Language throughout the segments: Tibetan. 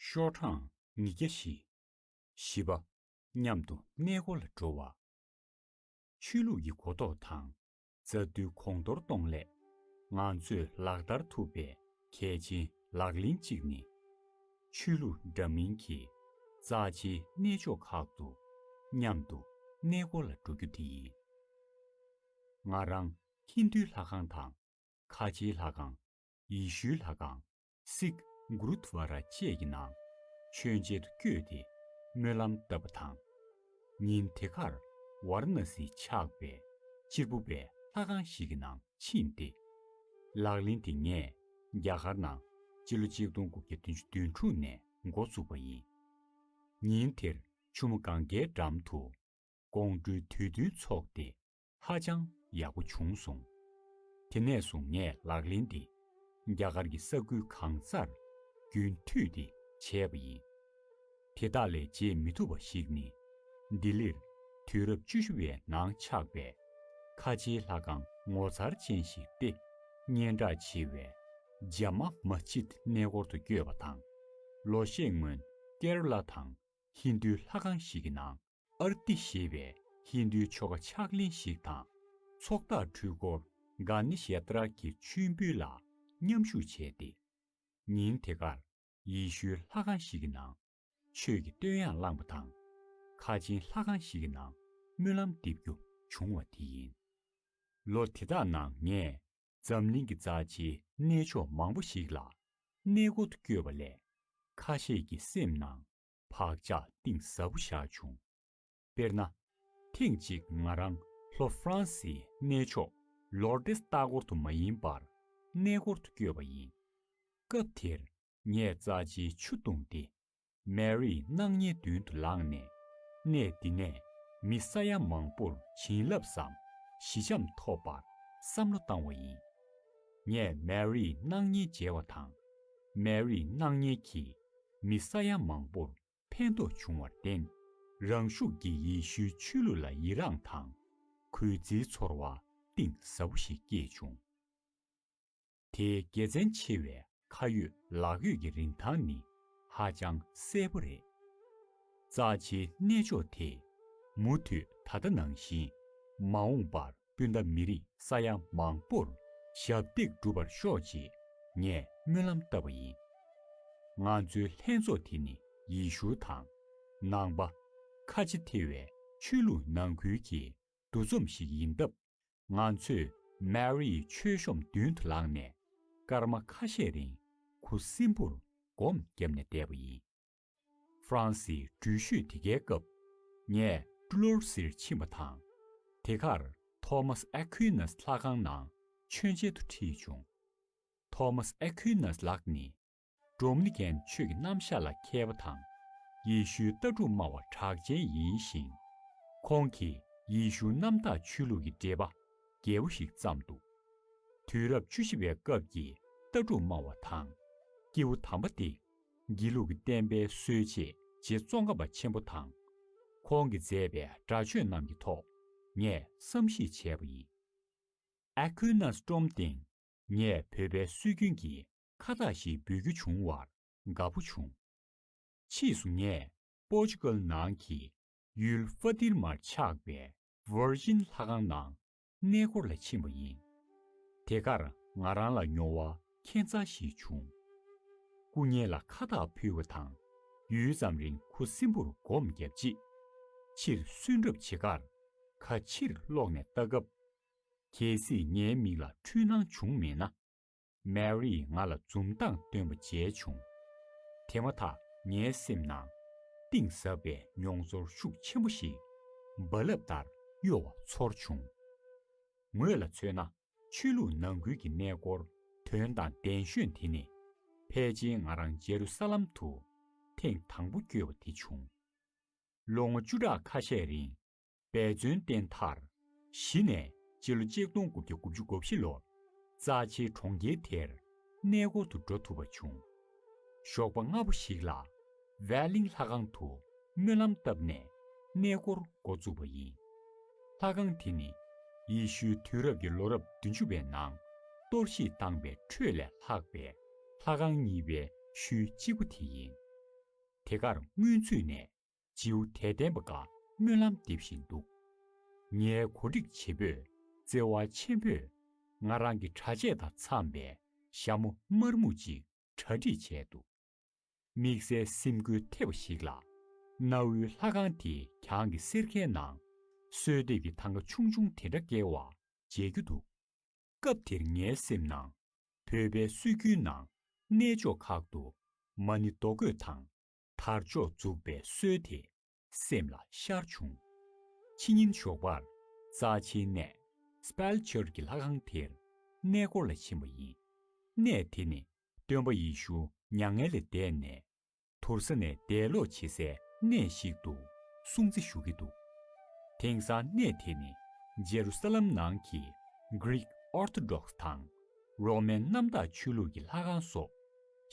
ཤོག་གྲངས་ཉིས་བརྒྱ་བཞི། བཞི་པ། མཉམ་དུ་གནས་སྒོ་ལ་འགྲོ་བ། ཆོས་ལུགས་ཀྱི་གོ་རྟོགས་དང་རྩ་རྡུལ་གོང་མཐོར་གཏོང་སླད་ང་ཚོས་ལག་བསྟར་ཐུབ་པའི་གལ་ཆེན་ལག་ལེན་གཅིག་ནི། ཆོས་ལུགས་འདྲ་མིན་གྱི་རྩ་ཆེའི་གནས་མཆོག་ཁག་ཏུ་མཉམ་དུ་གནས་སྒོ་ལ་འགྲོ་རྒྱུ་དེ་ཡིན། ང་རང་ཧིན་དྷུའི་ལྷ་ཁང་དང་ཁ་ཆེའི་ལྷ་ཁང། ཡེ་ཤུའི་ལྷ་ཁང། སིག། གུརུདྷ་བཱ་ར་བཅས་ཀྱི་ནང་མཆོད་མཇལ་དུ་བསྐྱོད་དེ་སྨོན་ལམ་བཏབ་པ་དང། ཉིན་དེ་ཁར་ཝཱར་ན་སི་ཆགས་པའི་སྤྱིལ་བུ་པའི་ལྷ་ཁང་ཞིག་གི་ནང་ཕྱིན་ཏེ། ལག་ལེན་དེ་ངས་རྒྱ་གར་ནང་སྤྱི་ལོ་ཆིག་སྟོང་དགུ་བརྒྱ་བདུན་ཅུ་དོན་དྲུག་ནས་འགོ་བཙུགས་པ་ཡིན། ཉིན་དེར་ཆུ་མོ་གངྒཱའི་འགྲམ་དུ་དགོང་དྲོའི་དུས་སྟོན་འཚོགས་ཏེ། ཧ་ཅང་ཡག་པོ་བྱུང་སོང། དེ་ནས་བཟུང་ངས་ལག་ལེན་འདི་རྒྱ་གར་གྱི་ས་ཁུལ་གང་སར་རྒྱུན་མཐུད་དེ་བྱས་པ་ཡིན། དེ་དག་ལས་བརྗེད་མི་ཐུབ་པ་ཞིག་ནི། ལྡི་ལིར་དུས་རབས་བཅུ་བཞི་བའི་ནང་ཆགས་པའི་ཁ་ཆེའི་ལྷ་ཁང་ངོ་མཚར་ཅན་ཞིག་སྟེ། སྙན་གྲགས་ཆེ་བའི Jama Masjid གནས་སྐོར་དུ་བསྐྱོད་པ་དང། ལོ་ཤས་སྔོན་ཀེར་ལ་དང་ཧིན་རྡུའི་ལྷ་ཁང་ཞིག་གི་ནང་ཨར་ཏི་ཞེས་པའི་ཧིན་དྷུའི་ཆོ་ག་ཕྱག་ལེན་ཞིག་དང། ཚོགས་བདག་འཁྲུལ་འཁོར་གྷ་ནི་ཞའི་ཏཱ་རཀ་གི་མཆོད་འབུལ་ལ་མཉམ་ཞུགས་བྱས་ཏེ། ཉིན་དེ་གར་ཡེ་ཤུའི་ལྷ་ཁང་ཞིག་གི་ནང་ཆོས་ཀྱི་བསྟོད་དབྱངས་བླངས་པ་དང། ཁ་ཆེན་ལྷ་ཁང་ཞིག་གི་ནང་སྨོན་ལམ་འདེབས་རྒྱུ་བྱུང་བ་དེ་ཡིན། ལོ་དེ་དག་ནང་ངས་འཛམ་གླིང་གི་རྩ་ཆེའི་གནས་མཆོག་མང་པོ་ཞིག་ལ་གནས་སྒོ་དུ་བསྐྱོད་པ་ལས། ཁ་ཤས་ཀྱི་སེམས་ནང་བག་ཆགས་གཏིང་ཟབ་པོ་བཞག་བྱུང། དཔེར་ན། ཐེངས་གཅིག་ང་རང་ལྷོ་ཧྥ་རན་སིའི་གནས་མཆོག་ལོར་ཏེ་ལྟ་སྐོར་དུ་མ་ཡིན་པར་གནས་སྐོར་དུ་བསྐྱོད་པ་ཡིན། སྐབས་དེར་ངས་རྩ་ཆེའི་ཆུ་བཏུངས་སྟེ། མེ་རི་སྣང་བརྙན་མདུན་དུ་ལངས་ནས། གནས་འདི་ནས་མི་ས་ཡ་མང་པོར་བྱིན་རླབས་སམ་ཞི་འཇམ་ཐོབ་པར་བསམ་བློ་བཏང་བ་ཡིན། ངས་མེ་རིའི་སྣང་བརྙན་མཇལ་བ་དང། མེ་རིའི་སྣང་བརྙན་གྱིས་མི་ས་ཡ་མང་པོར་ཕན་ཐོགས་བྱུང་བར་བརྟེན། རང་ཤུགས་ཀྱིས་ཡེ་ཤུའི་ཆོས་ལུགས་ལ་ཡི་རངས་དང་གུས་བརྩིའི་ཚོར་བ་གཏིང་ཟབ་པོ་ཞིག་སྐྱེས་བྱུང། དེའི་དགེ་མཚན་ཆེ་བའི་ཁ་ཡོད་ལག་ཡོད་ཀྱི་རིན་ཐང་ནི་ཧ་ཅང་གསལ་པོ་རེད། རྩ་ཆེའི་གནས་མཆོག་དེས་མུ་མཐུད་ད་ལྟ་ནང་བཞིན་མ་འོངས་པར་སྤུན་ཟླ་མི་རིགས་ས་ཡ་མང་པོར་ཞབས་འདེགས་སྒྲུབ་པར་ཤོག་ཅེས་ངས་སྨོན་ལམ་བཏབ་པ་ཡིན། ང་ཚོའི་ལྷན་ཚོགས་དེ་ནི་ཡེ་ཤུ་དང། ནང་པ། ཁ་ཆེ་ཐེ་བའི་ཆོས་ལུགས་ནང་ཁུལ་གྱི་འདུ་འཛོམས་ཤིག་ཡིན་སྟབས། ང་ཚོས Mary མཆོད་གཤོམ་མདུན་དུ་ལངས་ནས་སྐར་མ་ཁ་ཤས་རིང་གུ་སིམ་པོར་སྒོམ་བརྒྱབ་ནས་བསྡད་པ་ཡིན། ཧྥ་རན་སིའི་འགྲུལ་བཞུད་དེ་གའི་སྐབས། ངས་ཀྲུ་ལོར་སིར་ཕྱིན་པ་དང། དེ་གར Thomas Aquinas ལྷ་ཁང་ནང་མཆོད་མཇལ་དུ་ཁྲིད་བྱུང། Thomas Aquinas ལགས་ནི Dominican ཆོས་ཀྱི་རྣམ་གཞག་ལ་མཁས་པ་དང། ཡེ་ཤུའི་ལྟ་གྲུབ་སྨྲ་བ་གྲགས་ཅན་ཡིན་ཞིང། ཁོང་གིས་ཡེ་ཤུ་གནམ་བདག་ཆོས་ལུགས་ཀྱི་འགྲེལ་པ་རྒྱས་པོ་ཞིག་བརྩམས་འདུག་དུས་རབས་བཅུ་བཞི་པའི་སྐབས་ཀྱི་ལྟ་གྲུབ་སྨྲ་བ་དང། སྐྱེས་བུ་དམ་པ་སྟེ་སྒྱིད་ལུག་གི་བསྟན་པའི་སྲོལ་འབྱེད་རྗེ་བཙོན་ཁམས་པ་ཆེན་པོ་དང། ཁོང་གིས་མཛད་པའི་སྒྲ་ཆོས་རྣམས་ཀྱི་ཐོག་ངས་བསམ་གཞིགས་བྱས་པ་ཡིན། Aquinas སྒྲོམ་སྟེང་ངས་བོད་པའི་སྲོལ་རྒྱུན་གྱི་ཁ་བཏགས་ཤིག་འབུལ་རྒྱུ་བྱུང་བར་དགའ་པོ་བྱུང། ཕྱིས་སུ་ངས་པོར་ཅུ་ཀལ་ནང་གི་ཡུལ་ཧྥ་ཏིར་མར་ཆགས་པའི Virgin ལྷ་ཁང་ནང་གནས་སྐོར་ལ་ཕྱིན་པ་ཡིན། དེ་གར་ང་རང་ལ་མྱོང་བ་ཁྱད་མཚར་ཞིག་བྱུང། སྐུ་བརྙན་ལ་ཁ་བཏགས་ཕུལ་བ་དང་ཡུད་ཙམ་རིང་ཁུ་སིམ་པོར་སྒོམ་བརྒྱབ་རྗེས། ཕྱིར་སོན་གྲབས་བྱེད་ཁར་ཁ་ཕྱིར་སློག་ནས་ལྟ་སྐབས། གལ་སྲིད་ངའི་མིག་ལ་འཁྲུལ་སྣང་བྱུང་མེད་ན། Mary ང་ལ་འཛུམ་མདངས་སྟོན་པ་མཇལ་བྱུང། དེ་མ་ཐག་ངའི་སེམས་ནང། གཏིང་ཟབ་པའི་མྱོང་ཚོར་ཤུགས་ཆེན་པོ་ཞིག་རྦ་རླབས་ལྟར་གཡོ་བ་ཚོར་བྱུང། ངོས་ལ་མཚོན་ན་ཆོས་ལུགས་ནང་ཁུལ་གྱི་གནས་སྐོར་དོན་དང་ལྡན་གཞོན་དེ་ནི། ཕལ་ཆེན་ང་རང་ཇེ་རུ་ས་ལམ་དུ་ཐེངས་དང་པོ་བསྐྱོད་པ་དེ་བྱུང། ལོ་ངོ་བཅུ་ཕྲག་ཁ་ཤས་རིང་འབད་བརྩོན་བརྟེན་མཐར། གཞི་ནས་སྤྱི་ལོ་གཅིག་སྟོང་དགུ་བརྒྱ་དགུ་བཅུ་གོ་བཞི་ལོར། རྩ་ཆེའི་གྲོང་ཁྱེར་དེར་གནས་སྐོར་དུ་འགྲོ་ཐུབ་པ་བྱུང། ཞོགས་པ་སྔ་པོ་ཞིག་ལ། བྷའི་གླིང་ལྷ་ཁང་དུ་སྨོན་ལམ་བཏབ་ནས་གནས་སྐོར་འགོ་བཙུགས་པ་ཡིན། ལྷ་ཁང་དེ་ནི། ཡེ་ཤུའི་དུས་རབས་ཀྱི་ལོ་རབས་བདུན་ཅུ་བའི་ནང་གཏོར་བཤིག་བཏང་པའི་ཁྲོད་ལས་ལྷག་པའི་ལྷ་ཁང་གཉིས་པའི་ཤུལ་གཅིག་པུ་དེ་ཡིན། དེ་གར་སྔོན་ཚུད་ནས་སྤྱིའུ་དད་ལྡན་པ་འགའ་སྨོན་ལམ་འདེབས་བཞིན་འདུག་ངའི་གོ་སྒྲིག་བྱེད་པོས་བརྩེ་བ་ཆེན་པོས་ང་རང་གི་གྲྭ་ཆས་དང་འཚམས་པའི་ཞྭ་མོ་དམར་སྨུག་ཅིག་གྲ་སྒྲིག་བྱས་འདུག་དམིགས་བསལ་སེམས་འགུལ་ཐེབས་པ་ཞིག་ལ། གནའ་བོའི་ལྷ་ཁང་དེའི་གྱང་གི་སེར་ཁའི་ནང་གསོལ་འདེབས་ཀྱི་ཐང་ཀ་ཆུང་ཆུང་དེ་འདྲ་བཀལ་བར་མཇལ་རྒྱུ་འདུག་སྐབས་དེར་ངའི་སེམས་ནང་བོད་པའི་སྲོལ་རྒྱུན་ནང་གནས་མཆོག་ཁག་ཏུ་མ་ཎི་རྡོ་བརྐོས་དང། དར་ལྕོག་འཛུགས་པའི་སྲོལ་དེ་སེམས་ལ་ཤར་བྱུང། ཕྱི་ཉིན་ཞོགས་པར་རྩ་ཆེའི་གནས Spell Church གི་ལྷ་ཁང་དེར་གནས་སྐོར་ལ་ཕྱིན་པ་ཡིན། གནས་དེ་ནི་སྟོན་པ་ཡེ་ཤུ་མྱ་ངན་ལས་འདས་ནས་དུར་ས་ནས་འདས་ལོག་བྱེད་སའི་གནས་ཤིག་ཏུ་སྲུང་བརྩི་ཞུ་གི་འདུག་དེང་སང་གནས་དེ་ནི་ཇེ་རུ་སཱ་ལམ་ནང་གི Greek Orthodox དང Roman གནམ་བདག་ཆོས་ལུགས་ཀྱི་ལྷ་ཁང་སོགས་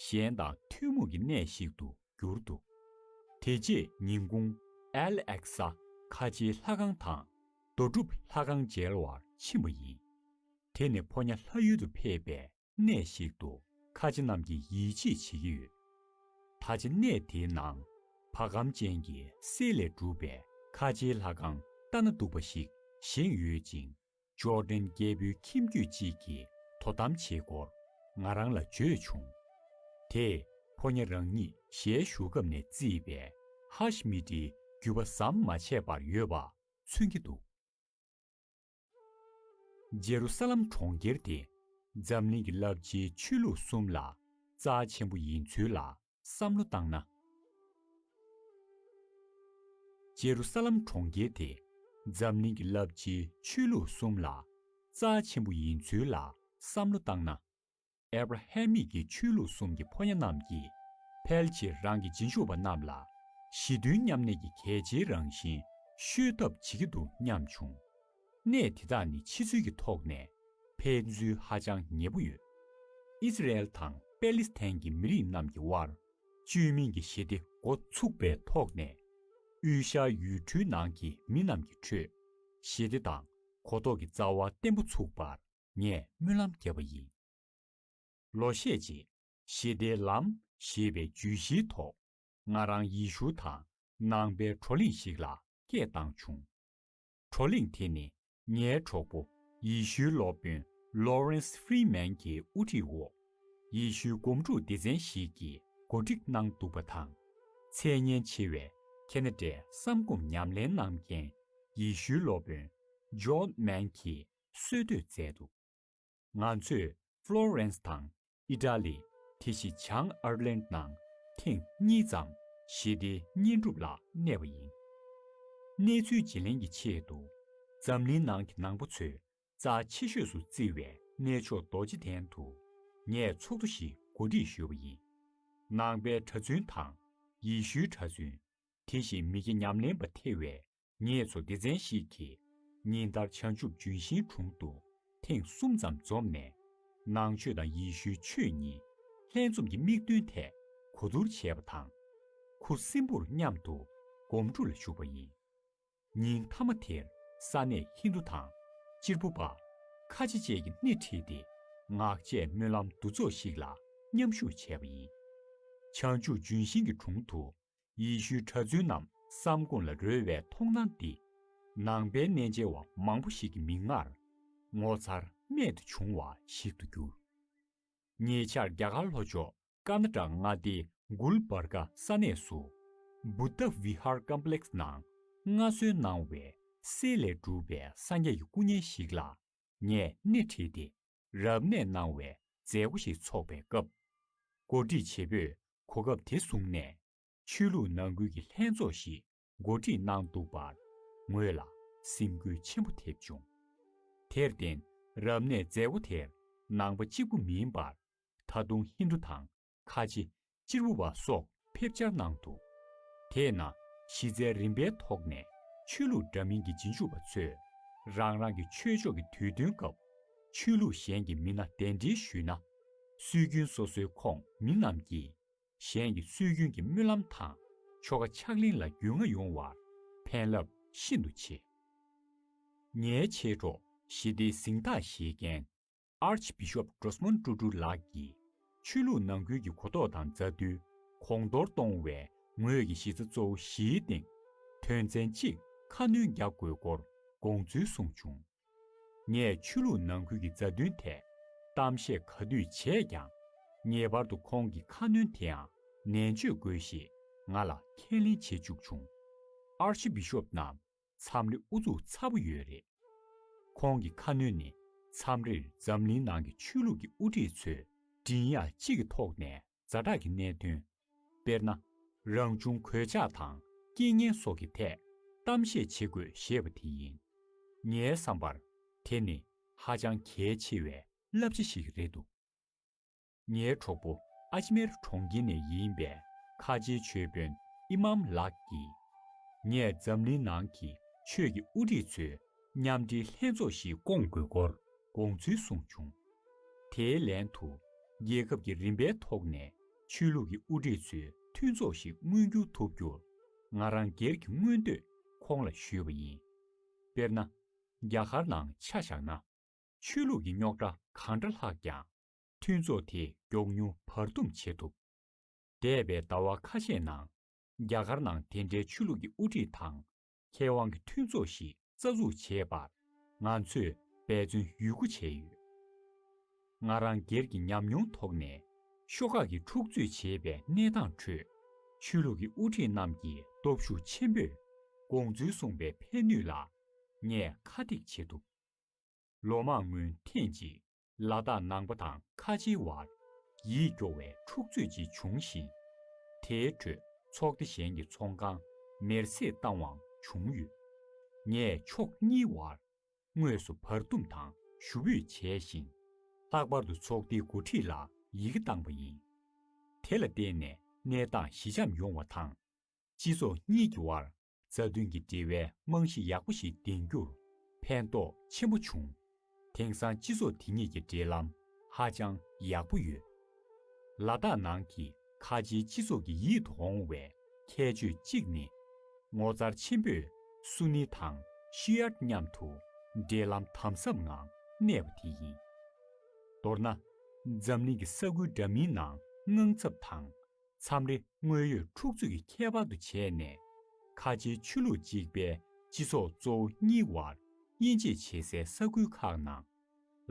གཞན་དང་ཐུན་མོང་གི་གནས་ཤིག་ཏུ་གྱུར་འདུག་དེ་རྗེས་ཉིན་གུང་ཨལ་ཨེག་ས་ཁ་ཆེའི་ལྷ་ཁང་དང་རྡོ་གྲུབ་ལྷ་ཁང་མཇལ་བར་ཕྱིན་པ་ཡིན། དེ་ནི་ཕོ་ཉ་ལྷ་ཡུལ་དུ་ཕེབས་པའི་གནས་ཤིག་ཏུ་ཁ་ཆེ་རྣམས་ཀྱིས་ཡིད་ཆེས་བྱེད་ཀྱི་ཡོད། ད་ཆ་གནས་དེའི་ནང་བ་གམ་ཅན་གྱི་གསེར་ལས་གྲུབ་པའི་ཁ་ཆེའི་ལྷ་ཁང་ལྟ་ན་སྡུག་པ་ཞིག་བཞེངས་ཡོད་ཅིང། ཅོ་ཏན་རྒྱལ་པོའི་ཁྱིམ་རྒྱུད་ཅིག་གིས་དོ་དམ་བྱེད་སྐོར་ང་རང་ལ་བརྗོད་བྱུང། དེས་ཕོ་ཉ་རང་ཉིད་གཞས་ཞུ་སྐབས་ནས་བརྩིས་པའི་ཧཱཤ་མི་ཏིའི་རྒྱུད་པ་ཟམ་མ་ཆད་པར་ཡོད་པ་མཚོན་གྱི་འདུག། རྗེ་རུ་ས་ལམ་གྲོང་ཁྱེར་དེ་འཛམ་གླིང་གི་རླབས་ཆེའི་ཆོས་ལུགས་གསུམ་ལ་རྩ་ཆེན་པོ་ཡིན་ཚུལ་ལ་བསམ་བློ་བཏང་ན། ཇེ་རུ་ས་ལམ་གྲོང་ཁྱེར་དེ་འཛམ་གླིང་གི་རླབས་ཆེའི་ཆོས་ལུགས་གསུམ་ལ་རྩ་ཆེན་པོ་ཡིན་ཚུལ་ལ་བསམ་བློ་བཏང་ན། ཨེ་བྷ་ར་ཧེ་མིག་གི་ཆོས་ལུགས་གསུམ་གྱི་ཕོ་ཉ་རྣམས་ཀྱིས་ཕལ་ཆེར་རང་གི་རྗེས་འཇུག་པ་རྣམས་ལ་ཞི་མཐུན་མཉམ་གནས་ཀྱི་གལ་ཆེའི་རང་བཞིན་ཤོད་ཐབས་བྱེད་ཀྱི་འདུག་སྙམ་བྱུང། གནས་དེ་དག་ནི་ཕྱི་ཚུལ་གྱི་ཐོག་ནས་ཕན་ཚུན་ཧ་ཅང་ཉེ་པོ་ཡོད། ཨིསི་རཱཨེལ་དང་པེ་ལིས་ཐན་གྱི་མི་རིགས་རྣམས་ཀྱི་དབར་བཅོས་མིན་གྱི་ཞི་བདེ་འགོ་ཚུགས་པའི་ཐོག་ནས། དབུས་ཤར་ཡུལ་གྲུའི་ནང་གི་མི་རྣམས་ཀྱི་ཁྲོད་ཞི་བདེ་དང་གོ་རྟོགས་ཀྱི་རྩ་བ་བརྟན་པོ་ཚུགས་པར་ངས་སྨོན་ལམ་བརྒྱབ་པ་ཡིན། ལོ་ཤས་རྗེས་ཞི་བདེའི་ལམ་ཞེས་པའི་བརྗོད་གཞིའི་ཐོག་ང་རང་ཡེ་ཤུ་དང་ནང་པའི་བགྲོ་གླེང་ཞིག་ལ་སྐད་བཏང་བྱུང། བགྲོ་གླེང་དེ་ནི་ངའི་གྲོགས་པོ་ཡི་ཤུའི་སློབ་དཔོན Lawrence Freeman གྱི་དབུ་ཁྲིད་འོག་ཡི་ཤུའི་སྒོམ་སྒྲུབ་སྡེ་ཚན་ཞིག་གིས་གོ་སྒྲིག་གནང་འདུག་པ་དང། ཚད་ཉེན་ཆེ་བའི་ཁེ་ན་ཏྲའི་བསམ་སྒོམ་ཉམས་ལེན་གནང་མཁན་ཡི་ཤུའི་སློབ་དཔོན John Mann གྱིས་གསོལ་བསྟོད་མཛད་འདུག། ང་ཚོས Florence དང Italy དེ་བཞིན་བྱང Ireland ནང་ཐེངས་གཉིས་ཙམ་ཞི་བདེའི་བསྙེན་སྒྲུབ་ལ་གནས་པ་ཡིན། གནས་ཚུལ་བརྗེ་ལེན་གྱི་ཆེད་དུ་འཛམ་གླིང་ནང་གི་ནང་པ་ཚོས་རྩ་ཆེ་ཤོས་སུ་བརྩི་བའི་གནས་མཆོག་རྡོ་རྗེ་གདན་དུ་ངས་ཚོགས་འདུ་ཞིག་གོ་སྒྲིག་ཞུས་པ་ཡིན། ནང་པའི་གྲྭ་བཙུན་དང་ཡེ་ཤུའི་གྲྭ་བཙུན་དེ་བཞིན་མི་སྐྱ་ཉམས་ལེན་པ་ཐེ་བའི་ངེད་ཚོ་སྡེ་ཚན་ཞིག་གིས་ཉིན་ལྟར་བྱང་ཆུབ་ལྗོན་ཤིང་དྲུང་དུ་ཐེངས་གསུམ་ཙམ་འཛོམས་ནས། ནང་ཆོས་དང་ཡེ་ཤུའི་ཆོས་གཉིས་ལྷན་འཛོམས་ཀྱི་དམིགས་འདུན་ཐད་གོ་བསྡུར་བྱས་པ་དང། ཁུ་སིམ་པོར་མཉམ་དུ་སྒོམ་སྒྲུབ་ལ་ཞུགས་པ་ཡིན། ཉིན་མཐའ་མ་དེར་ས་གནས་ཧིན་རྡུ་དང་སྤྱིར་བུ་པ། ཁ་ཆེ་བཅས་ཀྱི་སྣེ་ཁྲིད་དེ་ངག་བཅད་སྨོན་ལམ་འདུ་ཚོགས་ཤིག་ལ་མཉམ་ཞུགས་བྱས་པ་ཡིན། བྱང་ཆུབ་ལྗོན་ཤིང་གི་དྲུང་དུ་ཡེ་ཤུའི་གྲྭ་བཙུན་རྣམས་སམ་དགུང་ལ་རོལ་བའི་མཐོང་སྣང་འདི། ནང་པའི་གནས་མཇལ་བ་མང་པོ་ཞིག་གི་མིག་སྔར། ངོ་མཚར་རྨད་དུ་བྱུང་བ་ཞིག་ཏུ་གྱུར། ཉེ་ཆར་རྒྱ་གར་ལྷོ་ཕྱོགས་ཀར་ནཱ་ཀྲ་མངའ་སྡེའི Gul Barga ས་གནས་སུ། Buddha Vihar Complex ནང་མངའ་གསོལ་གནང་བའི་གསེར་ལས་གྲུབ་པའི་གསང་རྒྱ་ཡི་སྐུ་བརྙན་ཞིག་ལ་ངས་སྣེ་ཁྲིད་དེ་རབ་གནས་གནང་བའི་མཛད་སྒོ་ཞིག་འཚོགས་པའི་སྐབས། གོ་སྒྲིག་བྱེད་པོས་གོ་སྐབས་དེ་བཟུང་ནས་ཆོས་ལུགས་ནང་ཁུལ་གྱི་ལྷན་ཚོགས་ཤིག་གོ་སྒྲིག་གནང་འདུག་པར་ངོས་ལ་སེམས་འགུལ་ཆེན་པོ་ཐེབས་བྱུང། དེར་བརྟེན་རབ་གནས་མཛད་སྒོ་དེར་ནང་པ་གཅིག་པུ་མིན་པར་ད་དུང་ཧིན་དྷུ་དང་ཁ་ཆེ། སྤྱིར་བུ་བ་སོགས་ཕེབས་འཆར་གནང་འདུག་དེས་ན་གཞི་རྩའི་རིམ་པའི་ཐོག་ནས་ཆོས་ལུགས་འདྲ་མིན་གྱི་རྗེས་འཇུག་པ་ཚོས་རང་རང་གི་ཆོས་ཕྱོགས་ཀྱི་དུས་སྟོན་སྐབས་ཆོས་ལུགས་གཞན་གྱི་མི་སྣ་གདན་འདྲེན་ཞུས་ན། སྲོལ་རྒྱུན་སོ་སོའི་ཁོངས་མི་རྣམས་ཀྱིས་གཞན་གྱི་སྲོལ་རྒྱུན་གྱི་སྨོན་ལམ་དང་ཆོ་ག་ཕྱག་ལེན་ལ་རྒྱུས་མངའ་ཡོང་བར་ཕན་རླབས་ཤིན་ཏུ་ཆེ། ངའི་མཆེད་གྲོགས་ཞི་བདེའི་གཟེངས་རྟགས་བཞེས་མཁན། Archbishop Drosmond Tutu ལགས་ཀྱིས་ཆོས་ལུགས་ནང་ཁུལ་གྱི་གོ་རྟོགས་དང་མཛའ་མཐུན་གོང་མཐོར་གཏོང་བའི་ངོས་ཀྱི་གཞི་རྩ་གཙོ་བོ་བཞིའི་སྟེང་དོན་ཚན་གཅིག་ཁ་སྣོན་རྒྱག་དགོས་སྐོར་དགོངས་ཚུལ་གསུངས་བྱུང། ངས་ཆོས་ལུགས་ནང་ཁུལ་གྱི་མཛའ་མཐུན་ཐད་གཏམ་བཤད་ག་དུས་བྱས་ཀྱང་ངེས་པར་དུ་ཁོང་གི་ཁ་སྣོན་དེའང་ནན་བརྗོད་དགོས་ཞེས་ང་ལ་ཁས་ལེན་བྱེད་བཅུག་བྱུང། Archbishop རྣམས་མཚམས་རེ་ཨུ་ཚུགས་ཚ་པོ་ཡོད་རེད། ཁོང་གི་ཁ་སྣོན་ནས་མཚམས་རེར་འཛམ་གླིང་ནང་གི་ཆོས་ལུགས་ཀྱི་དབུ་ཁྲིད་ཚོས་མགྲིན་དབྱངས་གཅིག་གི་ཐོག་ནས་རྫ་དྲག་གི་གནད་དོན། དཔེར་ན། རང་བྱུང་གོད་ཆག་དང་རྐྱེན་ངན་སོགས་ཀྱི་ཐད་གཏམ་བཤད་བྱེད་དགོས་ཞེས་པ་དེ་ཡིན། ངའི་བསམ་པར་དེ་ནི་ཧ་ཅང་གལ་ཆེ་བའི་བསླབ་བྱ་ཞིག་རེད་འདུག། ངའི་གྲོགས་པོ་ཨ་ཇི་མེར་གྲོང་ཁྱེར་ནས་ཡིན་པའི་ཁ་ཆེའི་ཆོས་དཔོན་དབྱི་མཱམ་ལགས་ཀྱིས། ངས་འཛམ་གླིང་ནང་གི་ཆོས་ཀྱི་དབུ་ཁྲིད་ཚོའི་མཉམ་འབྲེལ་ལྷན་ཚོགས་ཤིག་བསྐོང་དགོས་སྐོར་དགོངས་ཚུལ་གསུངས་བྱུང། དེའི་ལན་དུ། རྒྱལ་ཁབ་ཀྱི་རིམ་པའི་ཐོག་ནས་ཆོས་ལུགས་ཀྱི་དབུ་ཁྲིད་ཚོའི་མཐུན་ཚོགས་ཤིག་མངོན་འགྱུར་ཐུབ་རྒྱུར། ང་རང་སྒེར་གྱི་མངོན་འདོད་ཁོང་ལ་ཞུས་པ་ཡིན། དཔེར་ན། རྒྱ་གར་ནང་ཆ་བཞག་ན། ཆོས་ལུགས་ཀྱི་རྙོག་དྲ་གང་འདྲ་ལྷགས་ཀྱང། མཐུན་ཚོགས་དེས་མགྱོགས་མྱུར་བར་འདུམ་བྱེད་ཐུབ། འདས་པའི་ཟླ་བ་ཁ་ཤས་ནང་རྒྱ་གར་ནང་དེ་འདྲའི་ཆོས་ལུགས་ཀྱི་དབུ་ཁྲིད་དང་མཁས་དབང་གི་མཐུན་ཚོགས་ཤིག་རྩ་འཛུགས་བྱེད་པར་ང་ཚོས་འབད་བརྩོན་ཡུལ་དགུ་བྱས་ཡོད། ང་རང་སྒེར་གྱི་ཉམས་མྱོང་ཐོག་ནས་ཤོག་ཁག་གིས་འཁྲུག་རྩོད་བྱེད་པའི་གནས་སྟངས་ཁྲོད་ཆོས་ལུགས་ཀྱི་དབུ་ཁྲིད་རྣམས་ཀྱི་སྟོབས་ཤུགས་ཆེན་པོས་དགོངས་ཚུལ་གསུངས་པའི་ཕན་ནུས་ལ་ངས་ཁ་ཐེག་བྱེད་ཐུབ། ལོ་མང་སྔོན་ཐེངས་གཅིག་ལ་དྭགས་ནང་པ་དང་ཁ་ཆེའི་བར་ཡིད་སྐྱོ་བའི་འཁྲུག་རྩོད་ཅིག་བྱུང་ཞིང། དེའི་ཁྲོད་ཚོགས་སྡེ་གཞན་གྱི་ཚོང་ཁང་མེར་བསྲེགས་བཏང་བའང་བྱུང་ཡོད། ངས་ཕྱོགས་གཉིས་བར་དངོས་སུ་བར་འདུམ་དང་ཞུ་འབོད་བྱས་ཤིང། ལྷག་པར་དུ་ཚོགས་སྡེའི་འགོ་ཁྲིད་ལ་ཡི་གེ་བཏང་བ་ཡིན། དེ་ལ་བརྟེན་ནས་གནས་སྟངས་ཞི་འཇམ་ཡོང་བ་དང། སྤྱི་ཚོགས་གཉིས་ཀྱི་བར་རྩ་དོན་གྱི་འབྲེལ་བའི་རྨང་གཞི་ཡག་པོ་ཞིག་འདིང་རྒྱུར་ཕན་ཐོགས་ཆེན་པོ་བྱུང། དེང་སང་སྤྱི་ཚོགས་དེ་གཉིས་ཀྱི་འབྲེལ་ལམ་ཧ་ཅང་ཡག་པོ་ཡོད། ལ་དྭགས་ནང་གི་ཁ་ཆེའི་སྤྱི་ཚོགས་ཀྱི་ཡིད་དུ་འོང་བའི་ཁྱད་ཆོས་གཅིག་ནི། ངོ་མཚར་ཆེན་པོས་སུ་ནི་དང་ཤི་ཡར་མཉམ་དུ་འབྲེལ་ལམ་དམ་ཟབ་ངང་གནས་པ་དེ་ཡིན། མདོར་ན། འཛམ་གླིང་གི་ས་ཁུལ་འདྲ་མིན་ནང་དངངས་འཚབ་དང་མཚམས་རེ་དངོས་ཡོད་འཁྲུག་རྩོད་ཀྱི་ཁྱད་པར་དུ་བྱས་ནས། ཁ་ཆེའི་ཆོས་ལུགས་གཅིག་པའི་སྤྱི་ཚོགས་གཙོ་བོ་གཉིས་དབར་དབྱེ་འབྱེད་བྱེད་སའི་ས་ཁུལ་ཁག་ནང།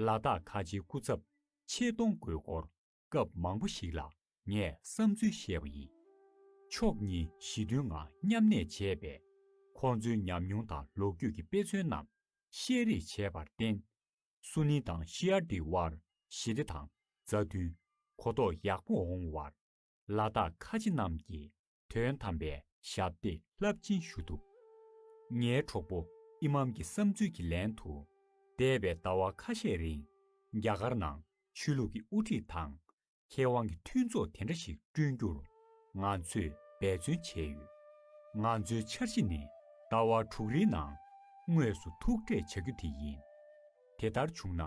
ལ་དྭགས་ཁ་ཆེའི་སྐུ་ཚབ་ཆེད་གཏོང་དགོས་སྐོར་སྐབས་མང་པོ་ཞིག་ལ་ངས་བསམ་ཚུལ་བཤད་པ་ཡིན། ཕྱོགས་གཉིས་ཞི་མཐུན་ངང་མཉམ་གནས་བྱས་པས། ཁོང་ཚོའི་ཉམས་མྱོང་དང་ལོ་རྒྱུས་ཀྱི་དཔེ་མཚོན་རྣམས་བཤད་རེས་བྱས་པར་བརྟེན། སུ་ནི་དང་ཤི་ཨར་ཏི་བར་ཞི་བདེ་དང་མཛའ་མཐུན། གོ་རྟོགས་ཡག་པོ་འོང་བར་ལ་དྭགས་ཁ་ཆེ་རྣམས་ཀྱིས་དོན་དམ་པའི་ཞབས་འདེགས་རླབས་ཆེན་ཞུ་ཐུབ། ངའི་གྲོགས་པོ་ཨི་མམ་གྱི་བསམ་ཚུལ་གྱི་ལན་དུ། འདས་པའི་ཟླ་བ་ཁ་ཤས་རིང་རྒྱ་གར་ནང་ཆོས་ལུགས་ཀྱི་དབུ་ཁྲིད་དང་མཁས་དབང་གི་མཐུན་ཚོགས་དེ་འདྲ་ཞིག་བསྐྲུན་རྒྱུར་ང་ཚོས་འབད་བརྩོན་བྱས་ཡོད། ང་ཚོའི་འཆར་གཞི་ནི་ཟླ་བ་དྲུག་རེའི་ནང་དངོས་སུ་ཐུག་འཕྲད་བྱ་རྒྱུ་དེ་ཡིན། དེ་ལྟར་བྱུང་ན་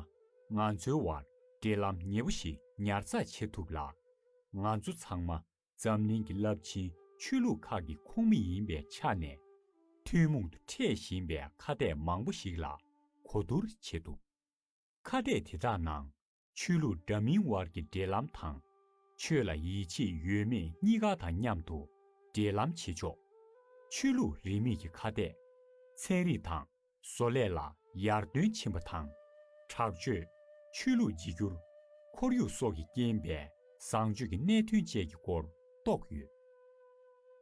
ང་ཚོའི་བར་འབྲེལ་ལམ་ཉེ་པོ་ཞིག་ཉར་ཚགས་བྱེད་ཐུབ་ལ། ང་ཚོ་ཚང་མ་འཛམ་གླིང་གི་རླབས་ཆེན་ཆོས་ལུགས་ཁག་གི་ཁོངས་མི་ཡིན་པའི་ཆ་ནས། ཐུན་མོང་དུ་འཕྲད་བཞིན་པའི་ཁ་གཏད་མང་པོ་ཞིག་ལ་གོ་བསྡུར་བྱེད་ཐུབ། ཁ་གཏད་དེ་དག་ནང་ཆོས་ལུགས་འདྲ་མིན་བར་གྱི་འབྲེལ་ལམ་དང། ཆོས་ལ་ཡིད་ཆེས་ཡོད་མེད་གཉིས་ཀ་དང་མཉམ་དུ་འབྲེལ་ལམ་བྱེད་ཆོག། ཆོས་ལུགས་རིས་མེད་ཀྱི་ཁ་གཏད། ཚན་རིག་དང་བཟོ་ལས་ལ་ཡར་བརྩོན་ཕྱིན་པ་དང། དྲག་སྤྱོད། ཆོས་ལུགས་བརྗེ་བསྒྱུར། ཁོར་ཡུག་སོགས་ཀྱིས་རྐྱེན་པས་བཟང་སྤྱོད་ཀྱི་གནད་དོན་བཅས་ཀྱི་སྐོར་རྟོགས་ཡོད།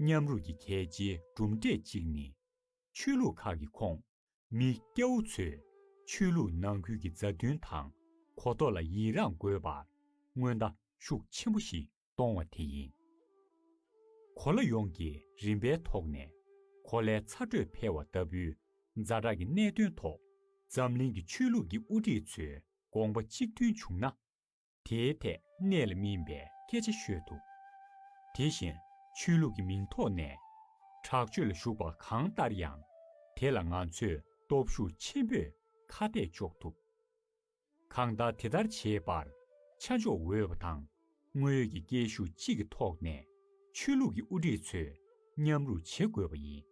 མཉམ་རུབ་ཀྱི་གལ་ཆེའི་གྲུབ་འབྲས་གཅིག་ནི། ཆོས་ལུགས་ཁག་གི་ཁོངས་མི་སྐྱ་བོ་ཚོས་ཆོས་ལུགས་ནང་ཁུལ་གྱི་མཛའ་མཐུན་དང་གོ་རྟོགས་ལ་ཡི་རངས་དགོས་པར་སྔོན་བརྡ་ཤུགས་ཆེན་པོ་ཞིག་གཏོང་བ་དེ་ཡིན། གོ་ལ་ཡོངས་ཀྱི་རིམ་པའི་ཐོག་ནས་གོ་ལའི་ཚ་དྲོད་འཕེལ་བ་ལྟ་བུའི་རྫ་དྲག་གི་གནད་དོན་ཐོག་འཛམ་གླིང་གི་ཆོས་ལུགས་ཀྱི་དབུ་ཁྲིད་ཚོའི་དགོངས་པ་གཅིག་མཐུན་བྱུང་ན། དེའི་ཐད་གནས་ལ་སྨིན་པའི་སྐད་ཆ་ཤོད་ཐུབ། དེ་བཞིན་ཆོས་ལུགས་ཀྱི་མིང་ཐོག་ནས་དྲག་སྤྱོད་ལ་ཞུགས་པ་གང་ལྟར་ཡང་དེ་ལ་ང་ཚོས་སྟོབས་ཤུགས་ཆེན་པོས་ཁ་གཏད་གཅོག་ཐུབ། གང་ལྟར་དེ་ལྟར་བྱེད་པར་ཆ་འཇོག་འོས་པ་དང་དངོས་ཡོད་ཀྱི་སྐད་ཤུགས་གཅིག་གི་ཐོག་ནས་ཆོས་ལུགས་ཀྱི་དབུ་ཁྲིད་ཚོས་མཉམ་རུབ་བྱེད་དགོས་པ་ཡིན།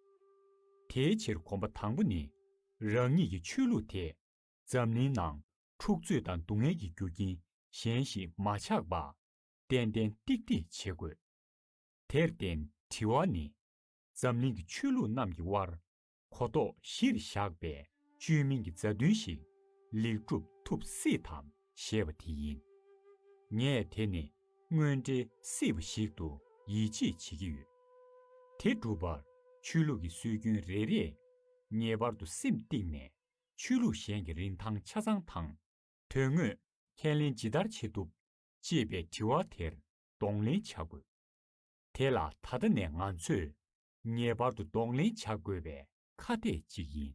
དེའི་ཕྱིར་གོམ་པ་དང་པོ་ནི་རང་ཉིད་ཀྱི་ཆོས་ལུགས་དེ་འཛམ་གླིང་ནང་འཁྲུག་རྩོད་དང་སྡུག་བསྔལ་གྱི་རྒྱུ་རྐྱེན་གཞན་ཞིག་མ་ཆགས་པ། ཏན་ཏན་ཏིག་ཏིག་བྱེད་དགོས། དེར་བརྟེན་དྲི་བ་ནི། འཛམ་གླིང་གི་ཆོས་ལུགས་རྣམས་ཀྱི་དབར་གོ་རྟོགས་གཞིར་བཞག་པའི་བཅོས་མིན་གྱི་མཛའ་མཐུན་ཞིག་ལེགས་གྲུབ་ཐུབ་སྲིད་དམ་ཞེས་པ་དེ་ཡིན། ངས་དེ་ནི་དངོས་འབྲེལ་སྲིད་པ་ཞིག་ཏུ་ཡིད་ཆེས་བྱེད་ཀྱི་ཡོད། དེ་སྒྲུབ་པར་ཆོས་ལུགས་ཀྱི་སྲོལ་རྒྱུན་རེ་རེས་ངེས་པར་དུ་སེམས་གཏིང་ནས་ཆོས་ལུགས་གཞན་གྱི་རིན་ཐང་ཆ་ཚང་དང། དོན་དངོས་ཁས་ལེན་ཇི་ལྟར་བྱེད་ཐུབ། ཅེས་པའི་དྲི་བ་དེར་གདོང་ལེན་བྱ་དགོས། དེ་ལ་ད་ལྟ་ནས་ང་ཚོས་ངེས་པར་དུ་གདོང་ལེན་བྱ་དགོས་པའི་ཁ་གཏད་ཅིག་ཡིན།